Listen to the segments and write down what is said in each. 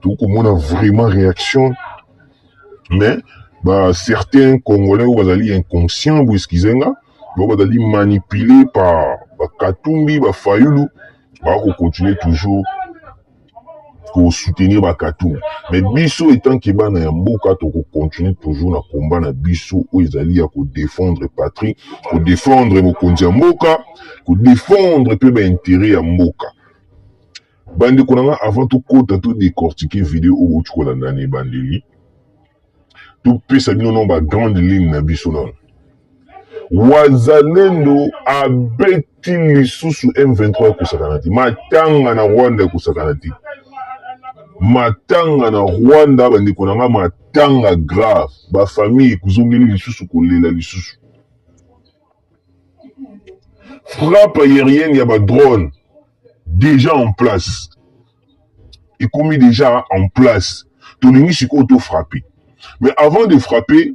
tokomona vraiment réaction mais ba certains congolais oyo bazali inconscient boeskize nga bango bazali manipule par bakatumbi bafayulu baya kocontinue toujours kosoutenir bakatumbi mais biso etant ke bana ya mboka tokocontinue toujours na combat na biso oyo ezali ya kodefendre patrie kodefendre mokonzi ya mboka kodefendre mpe bainteret ya mboka Bandeko na nga avant tokota to decortiquer video oyo bouti kolanda na ebandeli topesa bino nao bagrande ligne na biso nano wazalendo abeti lisusu m23 ekosakana te matanga na rwanda ekosakana te matanga na rwanda bandeko na nga matanga grave bafamille ekozongeli lisusu kolela lisusu frappe aérienne ya badrone deja en place ekomi deja en place tolingi sikoyo to frappe mais avant de frapper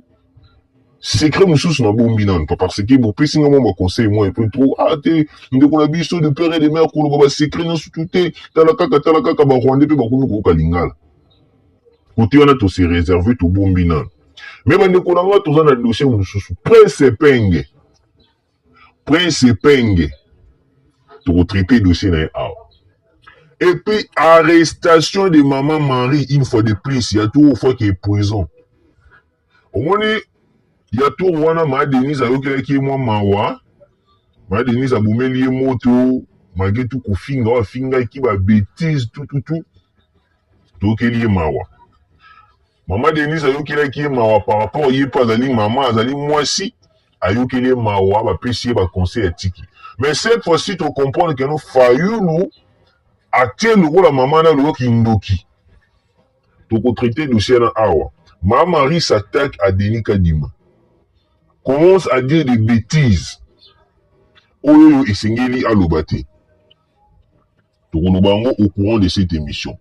secret mosusu na bombi nanu pa parce que bopesi nga mwa baconseil mwa epe trop a ah, te ndeko na biso de père et de mère koloba basecret nyonso tu te tala kaka tala kaka barwandais mpe bakomi koyoka lingala kote wana tose réserve tobombi nanu me bandeko na nga toza na dossier mosusu prince epenge Prince Epenge toko traiter dossier na ye awa. Et puis arrestation de maman Marie une fois de plus ya tour ofaki prison. Omoni ya tour wana ma Denise ayokelaki ye mwa mawa. Ma Denise abomeli ye moto malgré tout kofinga oyo afingaki ba betises tout tout tout toyokeli ye mawa. Mama Denise ayokelaki ye mawa par rapport ye mpe azali mama, azali mwasi, ayokeli ye mawa, bapesi ye ba conseil atiki. Mais cette fois-ci to comprendre que no Fayulu atie lokola mama na loyo kindoki. Toko traiter dossier na awa. Ma Marie s'attaque à Denis Kadima. Commence à dire des betises. Oyo esengeli aloba te. Tokoloba yango au courant de cette emission.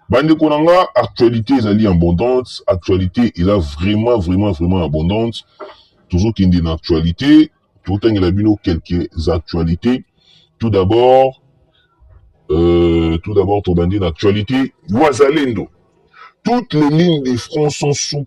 Bandeko na nga, actualité ezali abondante, actualité eza vraiment vraiment vraiment abondante. Tozokende na actualité, totangela bino quelques actualités. Tout d'abord, euh, tout d'abord tobandi na actualité. Wazalendo, toutes les lignes de front sont sous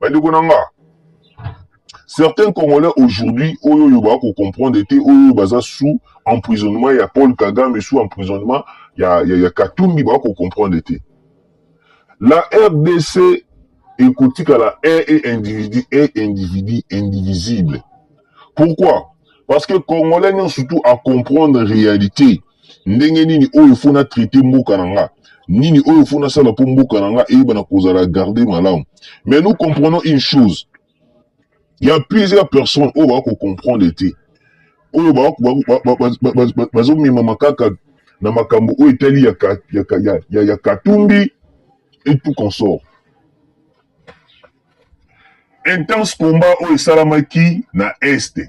bandeko na nga certains congolais aujourd'hui oyo oyo baa kocomprendre te oyo oyo baza sous emprisonnement ya paul kagame sous emprisonnement ya, ya, ya katumbi baa kocomprendre te la rdc ekotikala un et individu un individu indivisible pourquoi parce que congolais nyonso tout acomprendre réalité ndenge nini oyo fo na traite mboka na nga nini oyo fo nasala mpo mboka na nga eyeba na kozala garde malamu mais nous comprenons une chose il y a plusieurs personnes oyo bako comprendre te oyo bazomemama kaka na makambo oyo etali ya, ka, ya, ka, ya, ya, ya katumbi et tout consort intense combat oyo esalamaki na este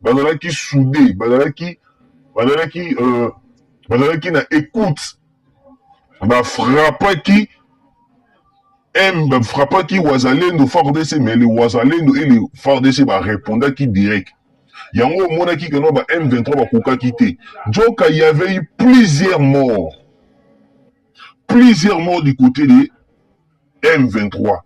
bazalaki soude bazalaki bazalaki euh, bazalaki na écoute bafrappaki m bafrappaki wazalendo fardc mais le wazalendo et le fardc barépondaki direct yango omonaki keno ba m23 bakokaki te nzoka y avait eu plusieurs morts plusieurs morts du côté de m23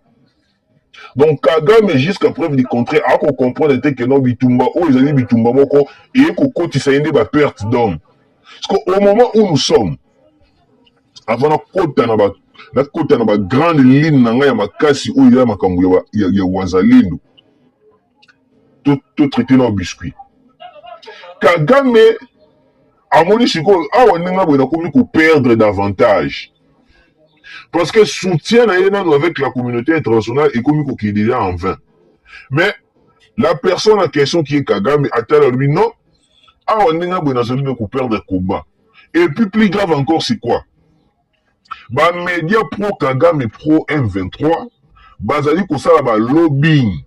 donc kagame jusqu'à preuve du contraire ako comprendre te que non bitumba oyo ezali bitumba moko eye kokotisa ye nde ba perte d'homme parce que au moment où nous sommes avant nakota na ba nakota na ba grande ligne na ngai ya makasi oyo ya makambo ya, ya, ya wazalendo totraite nao biscuit kagame amoni sikoyo awa ah, ndenge boye nakomi koperdre davantage parce que soutien na ye nano avec la communauté internationale ekomi kokende ya en vain mais la personne en question qui est kagame atala alobi non awa ah, ndenge boye nazali nde koperdre combat et puis plus grave encore c'est quoi ba media pro kagame pro m23 bazali kosala ba lobbying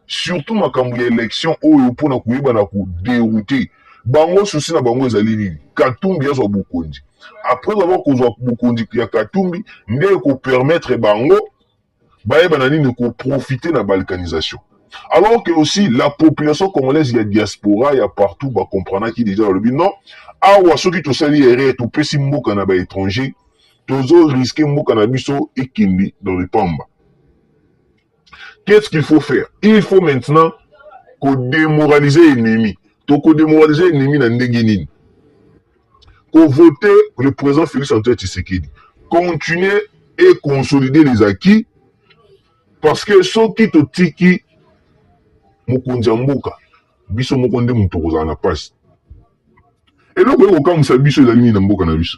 surtout makambo ya election oyo mpo na koyeba na koderoute bango susi na bango ezali nini katumbi azwa bokonzi après avoir kozwa bokonzi ya katumbi nde ekopermettre bango Bayeba na nini ko profiter na balkanisation? Alors que aussi la population congolaise ya diaspora ya partout ba comprenaki dejà balobi non awa soki tosali erreur topesi mboka na ba etrangers tozo risque mboka na biso ekende dans le pamba. Qu'est-ce qu'il faut faire? Il faut maintenant ko demoraliser ennemi. Toko demoraliser ennemi na ndenge nini? Ko voter le president Felix Antoine Tshisekedi, continuer et consolider les acquis parce que soki totiki mokonzi ya mboka, biso moko nde moto tokozala na pasi. Eloko ekokamwisa biso ezali nini na mboka na biso?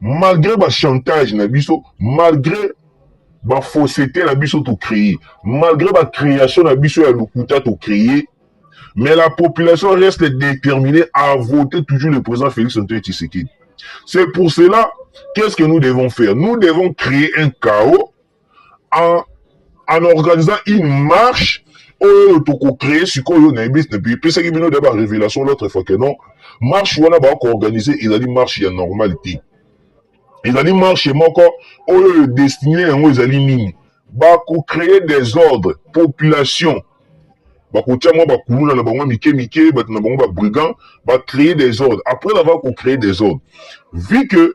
malgre ba chantage na biso malgre ba fausseté na biso to créer malgre ba création na biso ya lokuta to créer mais la population reste déterminée à voter toujours le président Félix Antoine Tshisekedi c'est pour cela qu'est-ce que nous devons faire nous devons créer un chaos en, en organisant une marche oyo tokocree sikoyo naepesaki bino da barévélation l'autre fois que non marche wana bakoorganize ezali marche ya normale te ezali marche moko oyo destine yango ezali nini bakocree desordre population bakotia mwa bakuluna na bango mike mike bato na bango babrigand bacree desordre après avoir kocree desordre vu que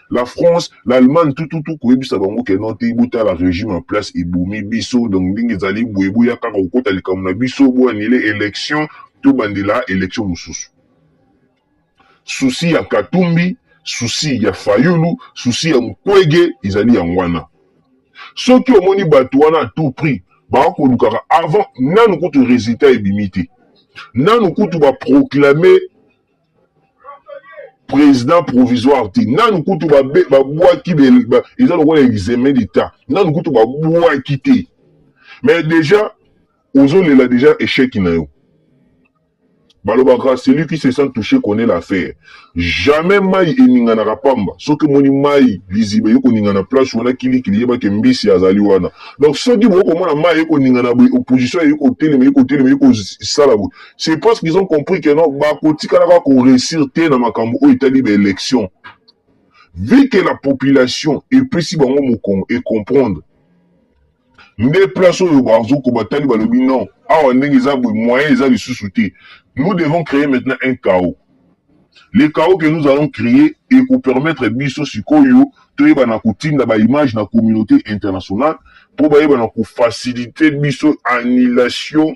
La France, l'Allemagne tout tout tout koyebisa bango que non te botala regime en place ebomi biso donc ndenge ezali boye boya kaka kokota likambo na biso bo annule election tobandela election mosusu. Souci ya Katumbi, souci ya Fayulu, souci ya Mukwege ezali yango wana. Soki omoni bato wana à tout prix bakolukaka avant nanu kutu résultat ebimi te nanu kutu baproclame président provisoire te nanu kutu babwaki eza lokola examen d'état nanu kutu babwaki te mais déjà ozolela déjà échec na yo balobaka celui qui se sent touché connaît l'affaire jamais mai eninganaka pamba soki omoni mai liziba eye koningana place wana kilikili yebaki mbisi azali wana donc soki bokoki komona mai eye koningana boye opposition eye kotelema eye kotelema eye kosala boye c'est parce qu'ils ont compris que non bakotikalaka koresir te na makambo oyo etali baélection vu que la population epesi bango mokongo ecomprendre nde place oyo bazoko batali balobi non awa ndenge eza boye moyen eza lisusu te nous devons créer maintenant un chaos le chaos que nous allons créer ekopermettre biso sikoyo toyebana kotinda baimage na communauté internationale mpo bayebana kofacilite biso annulation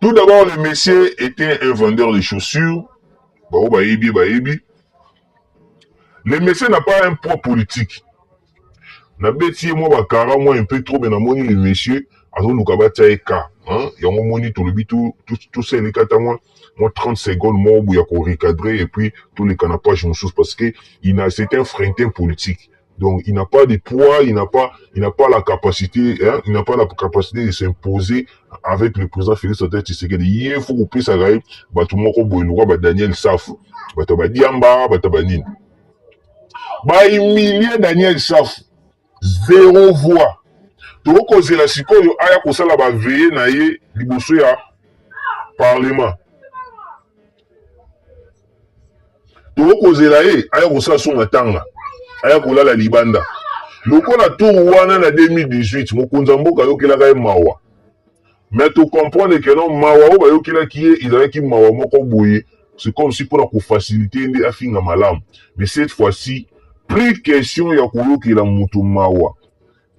Tout d'abord, le monsieur était un vendeur de chaussures. Bao bayebi, bayebi. Le monsieur n'a pas un poids politique. Na beti ye mwa bakara mwa un peu trop mais namoni le monsieur azoluka batya ye ka hein? yango moni tolobi tosali kata mwa mwa 30 seconde moko boye ya korecadre et puis toleka na page mosusu parce que ina c'est un frintin politique Donc il n'a pas de poids, il n'a pas, il n'a pas la capacité, hein, il n'a pas la capacité de s'imposer avec le président Félix Antoine Tshisekedi. Ye faut kopesa ye bato moko boye lokola ba Daniel Safu, bato ba Diamba, bato ba nini. Ba humilier Daniel Safu, zéro voix. tokozela sikoyo aya kosala baveye na ye liboso ya parlement tokozela ye aya kosala so matanga aya kolala libanda lokola tour wana na 2018 mokonzi ya mboka ayokelaka ye mawa me tocomprendre ke non mawa oyo bayokelaki ye ezalaki mawa moko boye c'est comme si mpona kofasilite ye nde afinga malamu mais cette fois-ci plus question ya koyokela moto mawa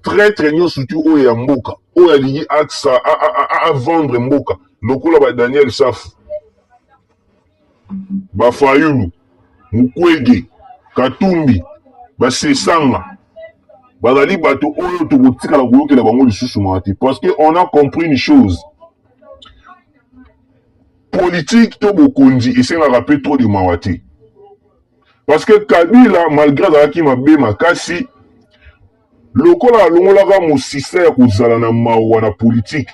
traitre nyonso surtout oyo ya mboka oyo alingi aksa avendre mboka lokola ba daniel safu Ba Fayulu, Mukwege, Katumbi, ba Sesanga bazali bato oyo tokotikala koyokela bango lisusu mawa te parce que on a compris une chose politique to bokonzi esengaka mpe trop de mawa te parce que Kabila malgré azalaki mabe makasi Lokola alongolaka mosisa ya kozala na mawa na politiki,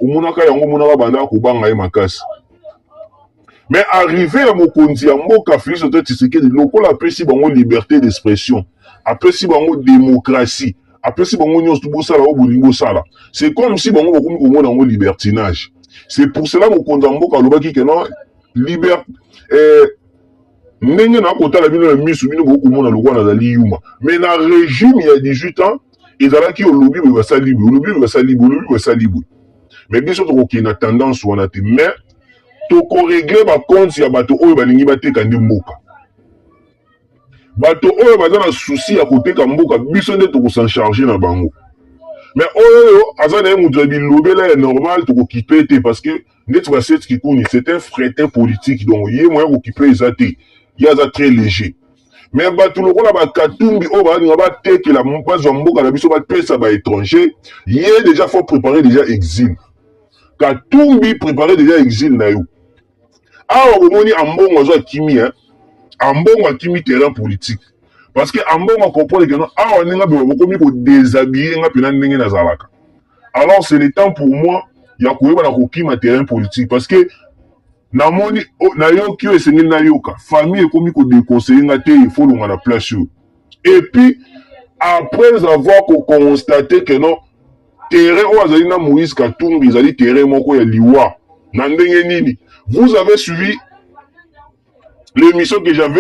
omonaka yango omonaka abandaka kobanga ye makasi. Mais arrive ya mokonzi ya mboka Felix Antoine Tshisekedi lokola apesi bango liberte d'expression, apesi bango demokrasi, apesi bango nyonso bosala oyo bolingi bosala. C'est comme si bango bakomi komona yango libertinage. C'est pour cela mokonzi ya mboka alobaki que non liberte eh, ndenge na kotala bino na misu bino bokomona lokola nazali yuma mais na regime ya 18 ans ezalaki olobi boye basali boye olobi boye basali boye olobi boye basali boye mais biso tokokende na tendance wana te mais tokoregle bakonte ya bato oyo balingi bateka nde mboka bato oyo baza na susi ya koteka mboka biso nde tokosencharge na bango mais oyo aza na ye moto ya bilobela ya normal tokokipe te parce que ndeti ba set kikuni c'est un fretin politique donc ye moyen kokipe eza te ye aza très léger mais bato lokola bakatumbi oyo balinga batekela bazwa mboka na biso bapesa ba étranger ye déjà faut préparer déjà exil katumbi préparer déjà exil na yo awa bomoni ambongo azwa akimi hein? ambongo akimi terrain politique parce que ambongo akomprendre keno awa ndenge abeba bokomi kodesabille nga mpena ndenge nazalaka alors c'est le temps pour moi ya koyeba na kokima terrain politique parce que namoni oh, nayoki oyo esengeli nayoka famille ekomi kodeconseille nga te il faut longa na place oyo et puis après avoir kokonstate que non terrain oyo azali na moïse katumbi ezali terrain moko ya liwa na ndenge nini vous avez suivi l'émission que j'avais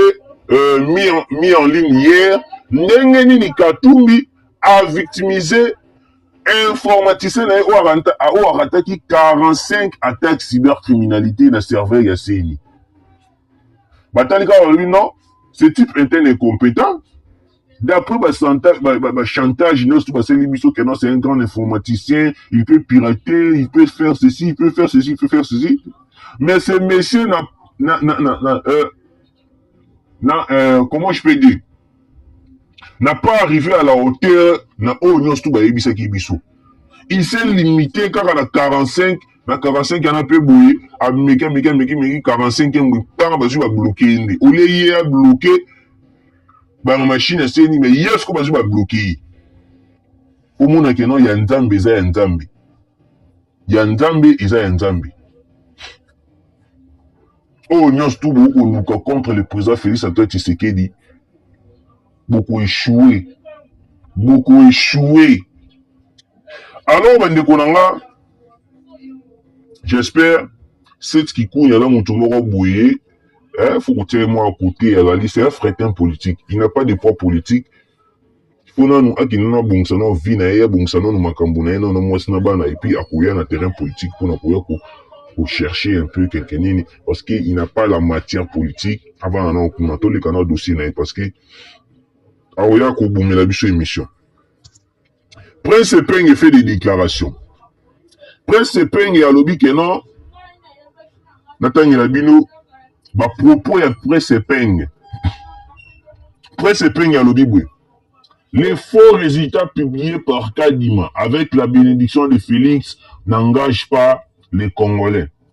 euh, mis, en, mis en ligne hier ndenge nini katumbi a victimisé informaticien na ye oyo arataki 45 attaque cybercriminalité na serveur ya ceni batali kaka balobi non ce type est un incompétent d'après bachantage ba, ba, ba nyonso basali biso que non c'est un grand informaticien il peut pirater il peut faire ceci il peut faire ceci il peut faire ceci mais ce monsieur na, na, na, na, na euh, na euh, comment je peux dire n'a pas arrivé à la hauteur na oyo nyonso tu bayebisaki biso il s'est limité kaka na 45 na 45 yana mpe boye ameki ameki ameki meki 45 yango mpaka bazwi babloke ye nde olie ye abloke bana mashine aseni me ye siko bazwi babloke ye omona keno ya nzambe eza ya nzambe ya nzambe eza ya nzambe oyo nyonso tu bokoluka contre le président félix antoine tshisekedi bokoeshue bokoeshue alors bandeko na nga j'espère cette kikunya na moto moko boye eh, faut kotia ye mwa kote azali c'est un fretin politique il n'a pas de poids politique po nanu akende nanu abongisa nanu vie na ye abongisa nanu makambo na ye nanu na mwasi na bana et puis akoya na terrain politique pona koya ko ko chercher un peu quelque nini parce que il n'a pas la matière politique avanda nanu kuna toleka na dossier na ye parce que akoya kobomela biso emission prince epenge fait des déclarations Prince Epenge alobi que non, natangela bino ba propos ya Prince Epenge. Prince Epenge alobi boye Les faux résultats publiés par Kadima avec la bénédiction de Félix n'engagent pas les Congolais.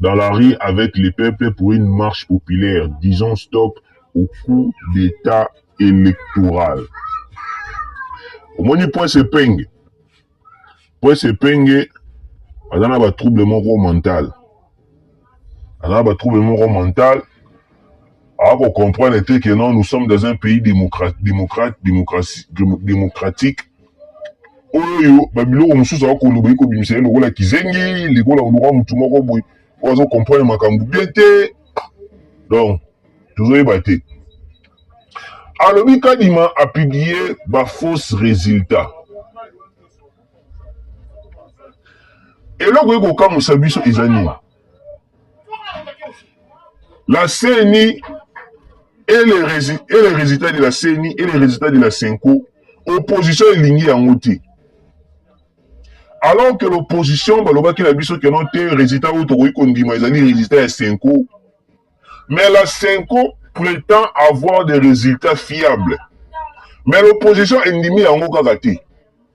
dans la rue avec les peuples pour une marche populaire disons stop au coup d'état électoral omoni prince epenge prince epenge aza na batrouble moko mental aza na batrouble moko mental a ko comprendre te que non nous sommes dans un pays démocrate démocrate démocratie démocratique oyo ba biloko mosusu ako loba iko bimisa lokola kizengi likola oluka mutu moko boye oyo azo comprendre makambo bien te donc tozoyeba te alobi kadima apublie bafausse résultat eloko ekokamwisa biso eza nini La CENI et les, résultats, et les résultats de la CENI et les résultats de la CENCO, opposition elingi yango te. Alors que l'opposition balobaki na biso que non te résultat oyo tokoki kondima ezali résultat ya CENCO. Mais la CENCO prétend avoir des résultats fiables. Mais l'opposition endimi yango kaka te.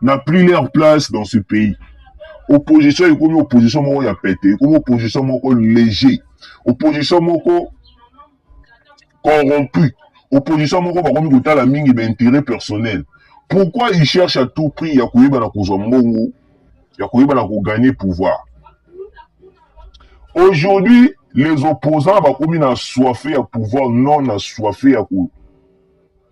na plus leur place dans ce pays opposition ekomi opposition moko ya pete ekomi opposition moko léger opposition moko corrompu opposition moko bakomi kotala mingi baintérêt personnel pourquoi il cherche à tout prix ya koyeba na kozwa mbongo ya koyeba na kogagner pouvoir aujourd'hui les opposants bakomi na soife ya pouvoir non na soife ya ko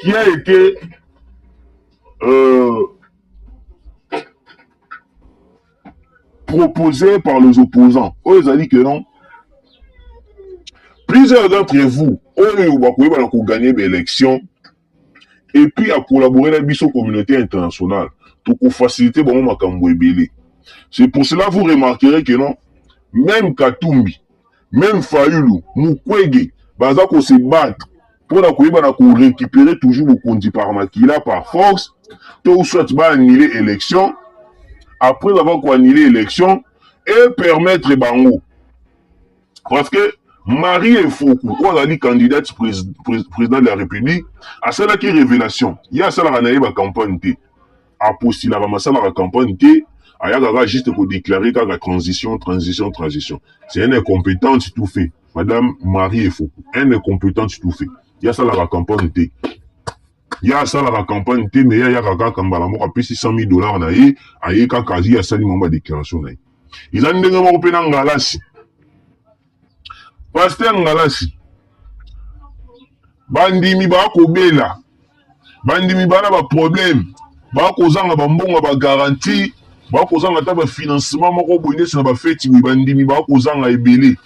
qui a été euh, proposé par les opposants oyo ezali que non plusieurs d'entre vous oyo bakoyeba na koganye baélection et puis à collaborer na biso communauté internationale tokofacilite bango makambo ebele c'est pour cela vous remarquerez que non même katumbi meme fayulu mukwege baza ko se battre mpo na koyeba na ko récupérer toujours bokonzi par makila par force to soit ba annuler élection après avoir ko annuler élection et permettre bango parce que Marie Efoku oyo azali candidate président de la République asalaki révélation ye asalaka na ye ba campagne te apostulaka masalaka campagne te ayaka kaka juste kodeklare kaka transition transition transition c'est un incompétente tout fait madame marie efoku un incompétente tout fait ye asalaka campagne te ye asalaka campagne te me ye ayaka kaka mbala moko apesi 100 000 dollars na ye aye kaka ye asali mama badeklaration na ye eza ndenge moko mpe na ngalasi Pasteur Ngalasi, bandimi bakobela, bandimi bana ba problème, bakozanga bambongo ya ba garantie, bakozanga ata ba financement moko boye ndeti na bafeti boye, bandimi bakozanga ebele.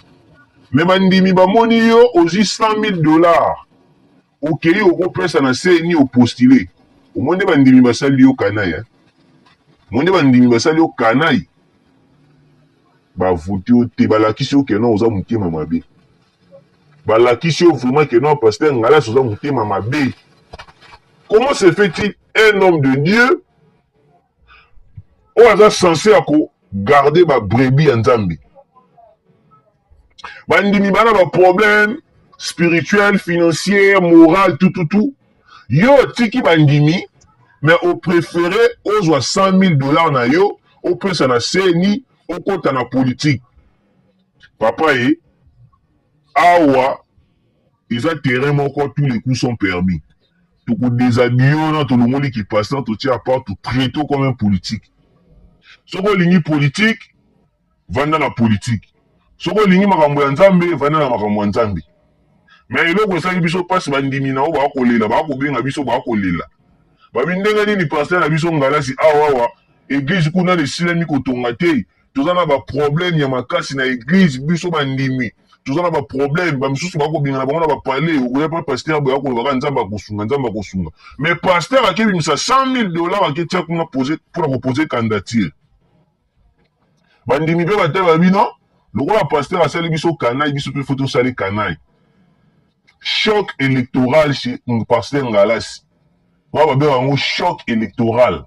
Mais bandimi bamoni yo ozwi 100 000 dollars, Okeyi oko pesa na CNI o postuler omoni nde ba ndimi ba sali yo canaille hein omoni nde ba ndimi ba sali yo canaille ba vote yo te ba lakisi yo que non oza motema mabe ba lakisi yo vraiment que non pasteur ngalas oza motema mabe comment se fait il un homme de Dieu oyo aza sense ya ko garder ba brebis ya nzambe bandimi bana ba problème spirituel financier moral tututu yo otiki bandimi mais au préféré ozwa 100 000 dollars na yo opesa na seni okota na politique papa ye awa eza terrain moko tous les coups sont permis tokodeshabille wana tolongoli kipasina totia apart totraite comme un politique soki olingi politique vanda na politique soki olingi makambo ya nzambe vanda na makambo ya nzambe me eloko esali biso mpasi bandimi na yo bakolela bakobenga biso bakolela babi ndenge nini paster na biso ngalasi awawa eglize kuna na esilami kotonga te toza na baproblème ya makasi na eglize biso bandimi toza na baproblème bamisusu bakobengana bango na bapale okoya mpe paster boya kolobaka nzambe akosunga nzambe akosunga me paster akebimisa 100 000 dollar aketia kuna pose mpona kopose candidature bandimi mpe batala bino lokola pasteur asali biso kanai biso mpe fo tosali kanai choc électoral chez pasteur ngalasi oyo babengaka yango choc électoral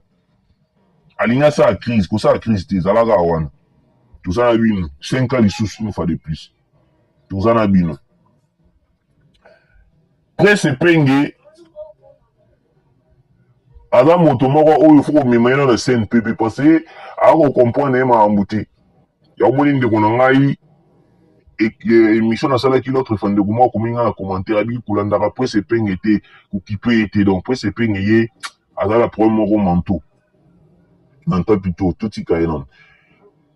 alingi asala crise kosala crise te ezalaka wana toza na bino 5 ans lisusu une fois de plus toza na bino Prince Epenge aza moto moko oyo fo komema ye na CNPP parce que akokomprendre ye makambo te yaomoni ndeko na ngai émission nasalaki l'autre fois ndeko moko akomi ngai na commentaire abiki kolandaka presse epenge te kokipe ye te donc presse epenge ye azala problème moko manto na ntapi to totika ye nano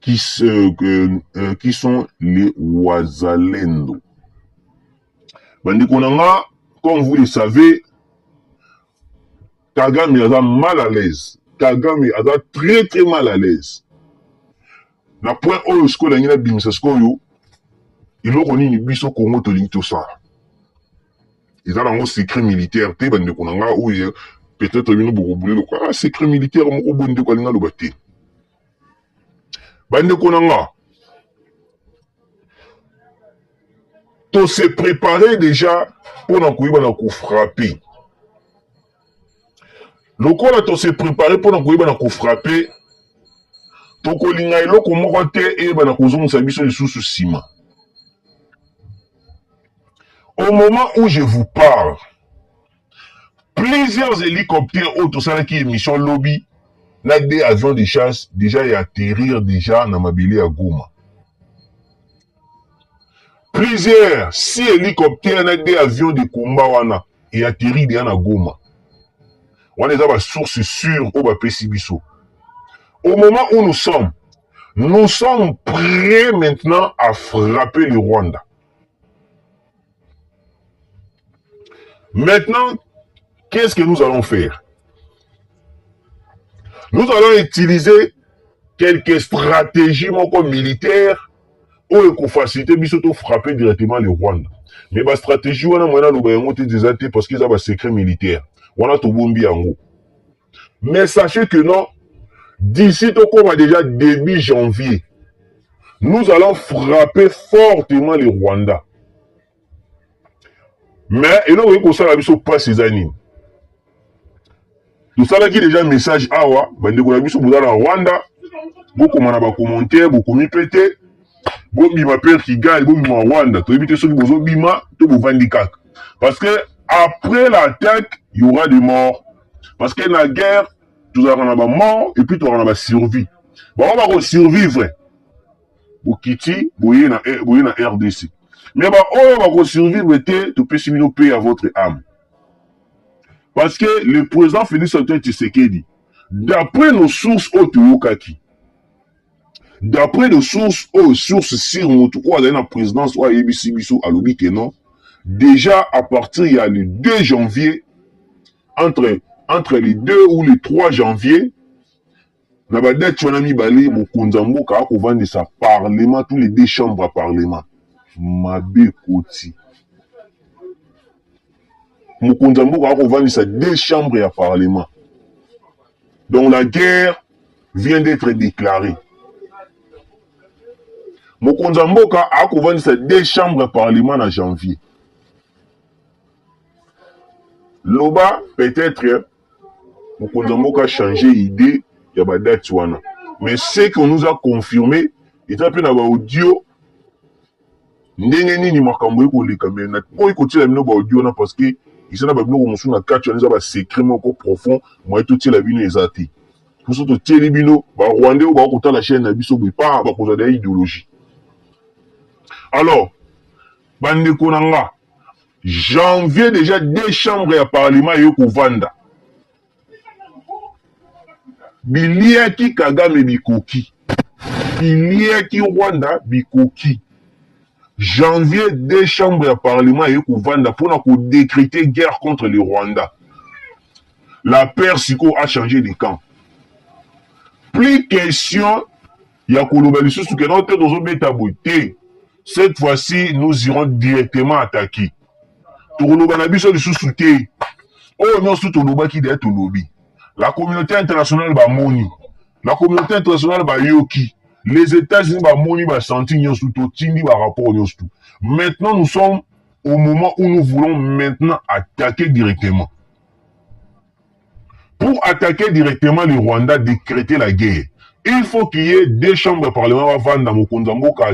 qui, euh, euh, qui sont les Wazalendo. Bandeko nanga, comme vous le savez, Kagame aza mal à l'aise. Kagame aza très très mal à l'aise. Na point oyo sikoyo nangi nabimisa sikoyo eloko nini biso Congo tolingi tosala eza nango secret militaire te bandeko na nga oyo peut-être bino bokobule lokola ah, secret militaire moko boye ndeko alingi aloba te bandeko na nga tose prépare déjà mpo na koyeba na kofrape lokola tose prepare mpo na koyeba na kofrape tokolinga eloko moko te eyeba na kozongisa biso lisusu nsima au moment où je vous parle plusieurs hélicoptères oyo tosalaki émission lobi na deux avions de chasse déjà ya atterrir déjà na mabele ya goma Plusieurs si hélicoptère na deux avions de combat wana et atterri déjà na Goma. Wana eza ba source sûre oyo bapesi biso. Au moment où nous sommes, nous sommes prêts maintenant à frapper le Rwanda. Maintenant, qu'est-ce que nous allons faire Nous allons utiliser quelques stratégies moko militaires oyo ekofacilite biso to frapper directement le Rwanda. Mais ba stratégie wana mwana loba yango te eza te parce que eza ba secret militaire. Wana tobombi yango. mais sachez que non d'ici tokoma déjà début janvier nous allons frapper fortement le rwanda mais eloko okoki kosala biso mpasi eza nini tosalaki déjà message awa bandeko na biso boza na rwanda bokoma na bacommentaire bokomi mpe te bobima mpe kigali bobima rwanda toyebi te soki bozobima to bovandi kaka parce que après l'attaque y aura des morts parce que na guerre tozalaka na bamort epuis tozalaka na basurvie bango bakosurvivre bokiti boye na, eh, boye na rdc me baoyo bakosurvivre te topesi bino mpe ya votre ame parce que le président félix antoine tshisekedi d'après nos sources oyo toyokaki D'après de source oyo source sur motu oyo azali na présidence oyo ayebisi biso alobi que non déjà à partir ya le 2 janvier entre entre le 2 ou le 3 janvier na badati wana mibale mokonzi ya mboka akovandisa parlement tous les deux chambres ya parlement mabe koti mokonzi ya mboka akovandisa deux chambres ya parlement donc la guerre vient d'etre declare mokonzi ya mboka akovandisa deux chambres ya parlement na janvier loba peut-être mokonzi ya mboka change idée ya badate wana mais ce qu'on nous a confirme eza mpe na baaudio ndenge nini makambo ekoleka me po ekotiela bino baaudio wana parce que eza na babiloko mosusu na kati wana eza basecret moko profond moye totiela bino eza te biso totieli bino ba rwandais oyo bako kotala chaîne na biso boye pa bakozwa deya ideologie alors bandeko na nga janvier deja deux chambre ya parlement eye kovanda biliaki kagame bikoki biliaki rwanda bikoki janvier deux chambre ya parlement eye kovanda mpona kodekrete guerre contre le rwanda La peur sikoyo a changer de camp. Plus question ya koloba lisusu ke non te tozobeta boye te. Cette fois-ci nous irons directement attaquer. Tokoloba na biso lisusu te. Oyo nyonso tolobaki deja tolobi. La communauté internationale bamoni. La communauté internationale bayoki. Les Etats-Unis bamoni basanti nyonso totindi ba rapport nyonso tout. Maintenant nous sommes au moment où nous voulons maintenant attaquer directement. Pour attaquer directement le Rwanda, décréter la guerre, il faut qu'il y ait deux chambres ya parlement bavanda mokonzi ya mboka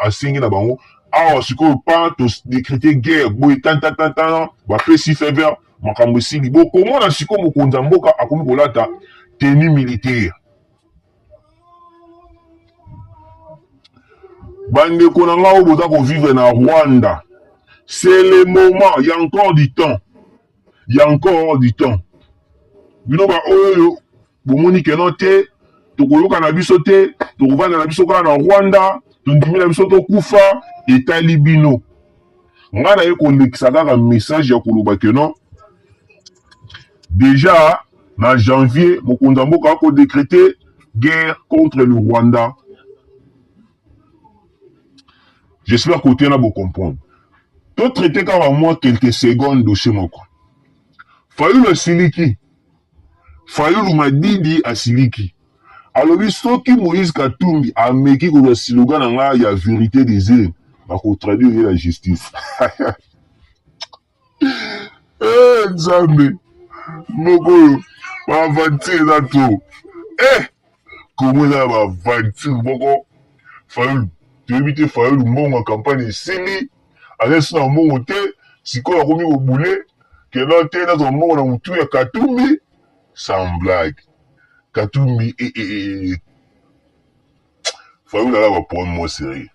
asengi na bango awa sikoyo pa todécréter guerre boye tantatantana bapesi fever makambo esili bokomona sikoyo mokonzi ya mboka akomi kolata tenue militaire bandeko na ngai oyo boza kovivre na rwanda c'est le moment ya encore du temps ya encore du temps bino baoyo bomoni keno te tokoyoka na biso te tokovanda na biso kaka na rwanda tondimi na biso tokufa etali bino ngai naye kolekisa kaka message ya koloba keno Deja na janvier mokonzi ya mboka ako decreter guerre contre le Rwanda. J'espère que otena bo comprendre. To traiter kaka mwa quelques secondes dossier moko. Fayulu asiliki. Fayulu Madidi asiliki. alobi soki moïse katumbi ameki kozwa siloga na ngai ya vérité des heures bakotraduire ye na justice Eh, nzambe moko oyo baaventure eza to eh, kongo eza ya baaventure moko fayulu toyebi te fayulu mbongo ya kampagne esili alesi na mbongo te sikoyo akomi kobule keno te nazwa mbongo na motu ya katumbi sans blague katumbi e, e, e, e. fayulu aka ba problème moko serieux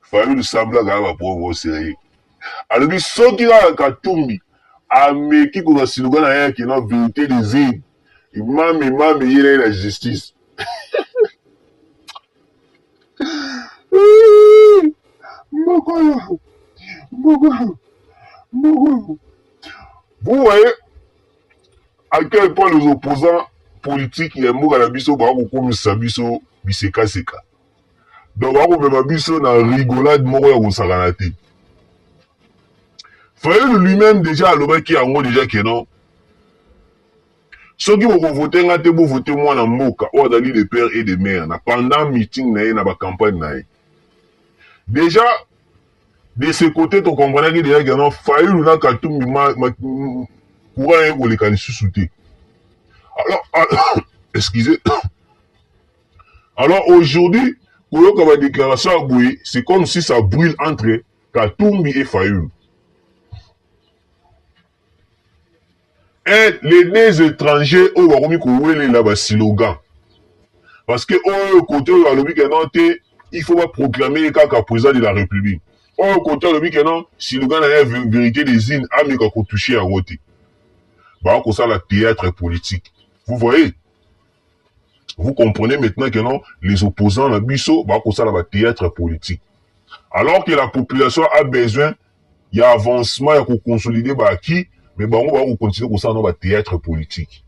fayulu semblant kaka ba problème moko serieux alobi soki kaka katumbi ameki kozwa siluka na ye ya kino verité des urnes imam imam eye na ye na justice mboko oyo mboko oyo mboko oyo vous voyez à quel point les opposants politiques ya mboka na biso baa kokomisa biso bisekaseka donc baa komema biso na rigolade moko ya kosakana te fayulu lui-même déjà alobaki yango déjà ke non soki bokovote nga te bovote mwana mboka oyo azali de père et de mère na pendant meeting na ye na bacampagne na ye déjà de ce cote to comprenaki deja ke non fayulu na katumbi courant eye koleka lisusu te alors ah, excusez alors aujourd'hui koyoka badéclaration ya boye c'est comme si ça brûle entre katumbi et fayulu Eh les deux etrangers oyo bakomi kowelela ba silogan parce que oyo kote oyo alobi ke non te il faut ba proclamer ye kaka president de la republique oyo kote alobi ke non silogan na ye verite des unes ameka kotouche yango te bakosala theatre politique vous voyez Vous comprenez maintenant que non, les opposants na biso ba kosala ba théâtre politique. Alors que la population a besoin ya avancement ya ko consolider ba acquis, mais bango ba ko continuer kosala no ba théâtre politique.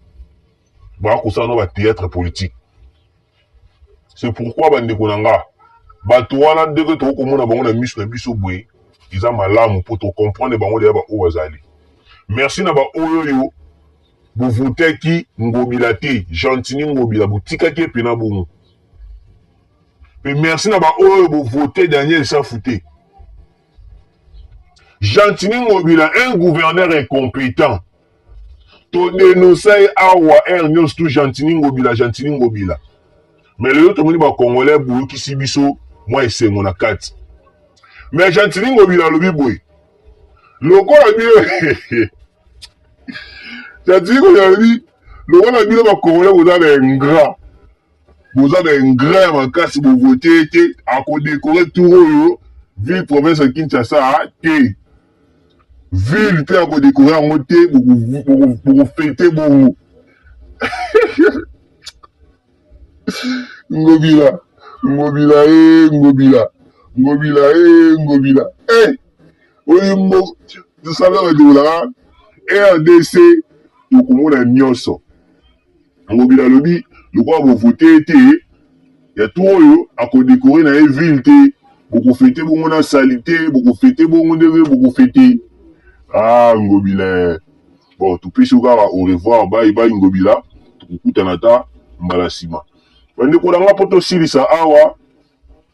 Ba kosala no ba théâtre politique. C'est pourquoi ba ndeko na nga bato wana ndenge tokoki komona bango na miso na biso boye eza malamu mpo tocomprendre bango deya baoyo bazali merci na baoyo oyo Bovotaki ngobila te gentini ngobila botikaki ye pena bongo pe merci na baoyo bovote daniel safu te gentini ngobila un gouverneur incompetent todenosa ye awa aire nyonso tu gentini ngobila gentini ngobila me lelo tomoni bacongolais boyokisi biso mwa esengo na kati me gentini ngobila alobi boye lokola bino cetadire oyo alobi lokola bino bakongole boza na ingrat boza na ingrat ya makasi bovote ye te akodekore tour oyo ville province ya kinshasa te ville mpe akodekore yango te bokofete bongo ngobila ngobila e ngobila ngobila e ngobila e oyo mbo tosala badola rdc tokomona nyonso ngobila alobi lokola bovote te ya to oyo akodekore na ye ville te bokofete bongo na salite bokofete bongo ndenge bokofete ah ngobila bon topesi yo kaka au revoir bai bai ngobila tokokutana ata mbala nsima bandeko na nga mpo tosilisa awa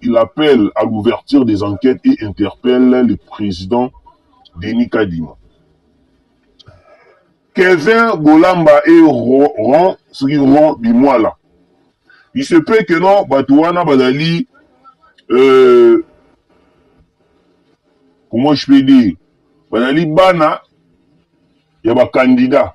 Il appelle à l'ouverture des enquetes et interpelle le president Denis Kadima. Kevin Bolamba et Ron, soki Ron Bimwala. Il se peut que non, bato wana bazali, euh, comment je peux dire, bazali bana ya ba candidats